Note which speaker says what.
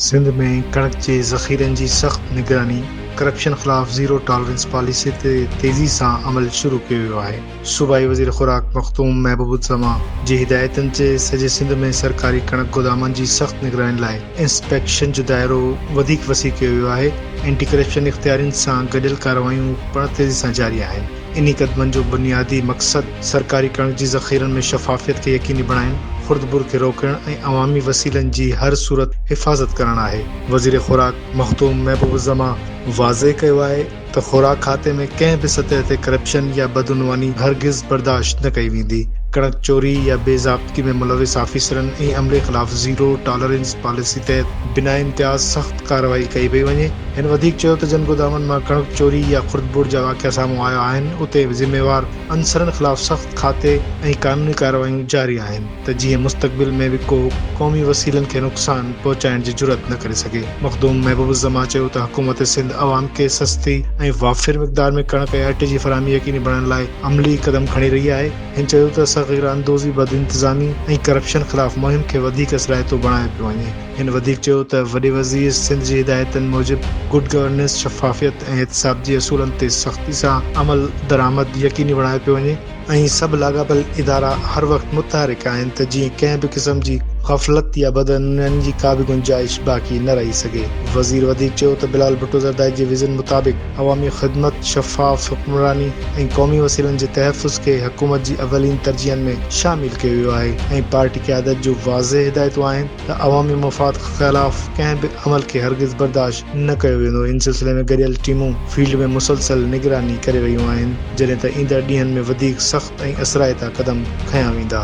Speaker 1: سنڌ ۾ ڪڻڪ جي ذخيرن جي سخت نگراني، ڪرپشن خلاف زيرو ٽالرنس پاليسي تي تيزي سان عمل شروع ڪيو ويو آهي، صوبائي وزير خوراڪ مخدوم محبوب الزمان جي هدايتن تي سڄي سنڌ ۾ سرڪاري ڪڻڪ گودامن جي سخت نگراني لاء انسپيڪشن جو دائرو وڌيڪ وسيع ڪيو ويو آهي، اينٽي ڪرپشن اختيارين سان گڏيل ڪارروايون پڻ تيزي سان جاري آهن، انهي قدمن جو بنيادي مقصد سرڪاري ڪڻڪ جي ذخيرن ۾ شفافيت کي يقيني بڻائڻ، خردبر کي روڪڻ ۽ عوامي وسيلن جي هر صورت حفاظت ڪرڻ آهي. وزير خوراڪ مخدوم محبوب الزمان واضح ڪيو آهي ته خوراڪ کاتي ۾ ڪنهن به سطح تي ڪرپشن يا بدعنواني هرگز برداشت نه ڪئي ويندي، ڪڻڪ چوري يا بي ضابطگي ۾ ملوث آفيسرن ۽ عملي خلاف زيرو ٽالرنس پاليسي تحت بنا امتياز سخت ڪارروائي ڪئي پئي وڃي. هن وڌيڪ چيو ته جن گودامن مان ڪڻڪ چوري يا خرد ٻوڙ جا واقعا سامهون آيا آهن اتي ذميوار عنصرن خلاف سخت کاتي ۽ قانوني ڪارروايون جاري آهن. ته جيئن مستقبل ۾ به ڪو قومي وسيلن کي نقصان پهچائڻ جي جرئت نه ڪري سگهي. مخدوم محبوب الزمان چيو ته حڪومت سنڌ عوام کي سستي ۽ وافر مقدار ۾ ڪڻڪ ۽ اٽي جي فراهمي يقيني بڻائڻ لاء عملي قدم کڻي رهي آهي. هن چيو ته صغير اندوزي، بدانتظامي ۽ ڪرپشن خلاف مهم کي وڌيڪ اثرائتو بڻايو پيو وڃي. هن وڌيڪ چيو ته وڏي وزير سنڌ جي هدايتن موجب گڊ گورننس، شفافيت ۽ احتساب جي اصولن تي سختي سان عملدرآمد يقيني بڻايو پيو وڃي. اهي سڀ لاڳاپيل ادارا هر وقت متحرڪ آهن ته جيئن ڪنهن به قسم جي غفلت يا بدعنونين جي ڪا به گنجائش باقي نه رهي سگهي. وزير وڌيڪ چيو ته بلال ڀٽو زرداري جي ويزن مطابق عوامي خدمت، شفاف حڪمراني ۽ قومي وسيلن جي تحفظ کي حڪومت جي اولين ترجيحن ۾ شامل ڪيو ويو آهي ۽ پارٽي قيادت جون واضح هدايتون آهن ته عوامي مفاد خلاف ڪنهن به عمل کي هرگز برداشت نه ڪيو ويندو، ان سلسلي ۾ گڏيل ٽيمون فيلڊ ۾ مسلسل نگراني ڪري رهيون آهن، جڏهن ته ايندڙ ڏينهن ۾ وڌيڪ سخت ۽ اثرائتا قدم کنيا ويندا.